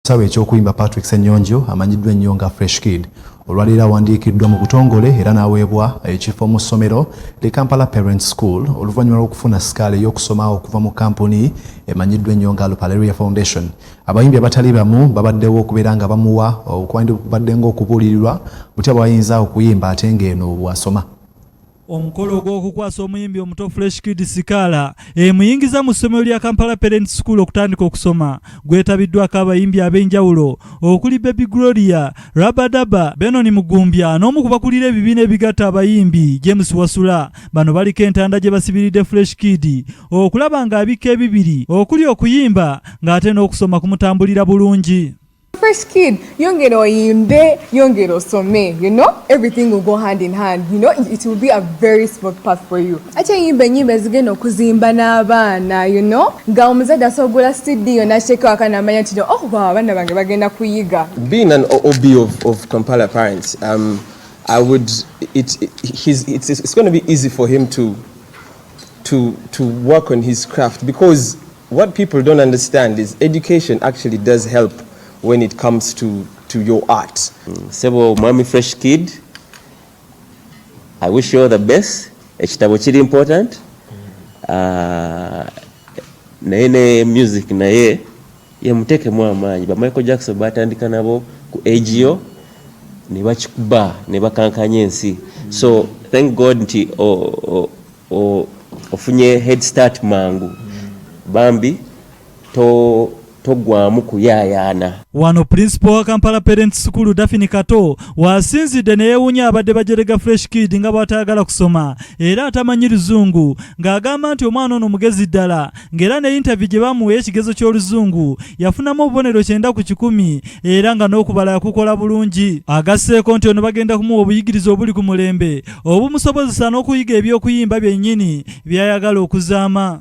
Ekisawe eky'okuyimba Patrick Senyonjo amanyiddwa ennyo nga Fresh Kid olwaleero awandiikiddwa mu butongole era n'aweebwa ekifo mu ssomero li Kampala Parent School oluvannyuma lw'okufuna sikaala ey'okusoma okuva mu kampuni emanyiddwa ennyo nga Lupaleria Foundation. Abayimbi abatali bamu babaddewo okubeera nga bamuwa okwandibadde ng'okubuulirirwa butya bw'ayinza okuyimba ate ng'eno bw'asoma. Omukolo ogw'okukwasa omuyimbi omuto Fresh Kid Sikaala emuyingiza mu ssomero lya Kampala Parents School okutandika okusoma gwetabiddwako abayimbi ab'enjawulo okuli Baby Gloria, Rabadaba, Benon Mugumbya n'omu ku bakulira ebibiina ebigatta abayimbi James Wasula. Bano baliko entanda gye basibiridde Fresh Kid okulaba ng'abikka ebibiri okuli okuyimba ng'ate n'okusoma kumutambulira bulungi. fresh kid yongera oyimbe yongera osome you know everything will go hand in hand you know it will be a very smooth path for you ate yimba enyimba ezigenda okuzimba n'abaana you know nga omuzadde asobola cd yona akyeko akana amanya nti oh wow abaana bange bagenda kuyiga being an ob of, of kampala parents um, i would it, it, his, it's, it's going to be easy for him to to to work on his craft because What people don't understand is education actually does help when it comes to, to your art. Sebo Mwami Fresh Kid, I wish you all the best. Ekitabo kiri important. Uh, naye ne music naye yemutekemu amaanyi ba Michael Jackson batandika nabo ku age yo ne bakikuba ne bakankanya ensi. So thank God nti oh, oh, ofunye head start mangu bambi to togwamu kuyayaana wano principal wa kampala parent sukulu dafini kato wasinzidde neyewunya abadde bajerega fresh kid nga bwatayagala kusoma era atamanyi luzungu ng'agamba nti omwana ono mugezi ddala ng'era ne yintavi gye baamuwa ey'ekigezo ky'Oluzungu yafunamu obubonero kyenda ku kikumi era nga n'okubala yakukola bulungi. Agasseeko nti ono bagenda kumuwa obuyigirize obuli ku mulembe obumusobozesa n'okuyiga eby'okuyimba byennyini by'ayagala okuzaama.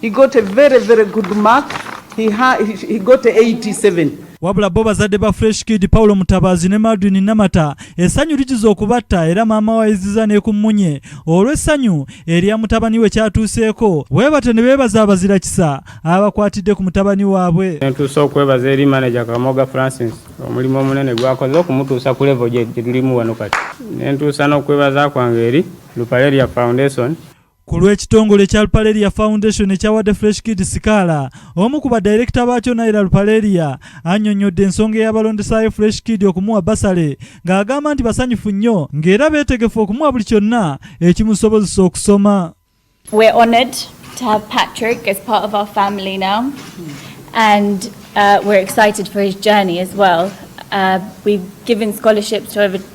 He got a very very good mark. He, ha, he, he got 87. wabula bo bazadde ba fresh kid paulo mutabaazi ne madwin namata essanyu ligiza okubatta era maama wayiziza ne ku mmunye olw'essanyu erya mutabani we kyatuuseeko weebatyo ne beebaza abazira kisa abakwatidde ku mutabani waabwe entuusa okwebaza eri manaja kamoga francis omulimu omunene gwakoze okumutuusa ku levo gye tulimu wano kati nentuusa n'okwebaza kwange eri lupareria foundation Ku lw'ekitongole kya Lupaleria Foundation ekyawadde Fresh Kid sikaala, omu ku badirekita baakyo Naira Lupaleria annyonnyodde ensonga eyabalondesaayo Fresh Kid okumuwa basale ng'agamba nti basanyufu nnyo ng'era beetegefu okumuwa buli kyonna ekimusobozesa okusoma. We're honored to have Patrick as part of our family now and uh, we're excited for his journey as well. Uh, we've given scholarships to over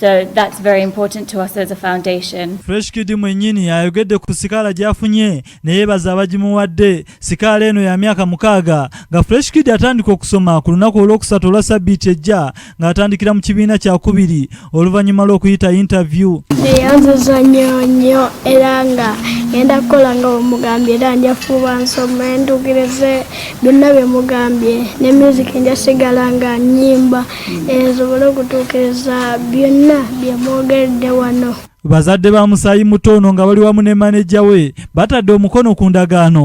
So that's very important to us as a foundation. Fresh Kid mwenyini ayogedde ku sikaala gyafunye neyebaza abagimuwadde. Sikaala eno ya myaka mukaaga nga Fresh Kid atandika okusoma ku lunaku olwokusatu olwa sabbiiti ejja ng'atandikira mu kibiina kyakubiri oluvannyuma lw'okuyita interview. Neyanziza nnyo nnyo era nga ngenda kukola nga bwemugambye era njafuba nsome ndugirize byonna byemugambye ne music njasigala nga nyimba esobole okutuukiriza byonna bye mwogedde wano. Bazadde ba musaayi muto ono nga bali wamu ne maneja we batadde omukono ku ndagaano.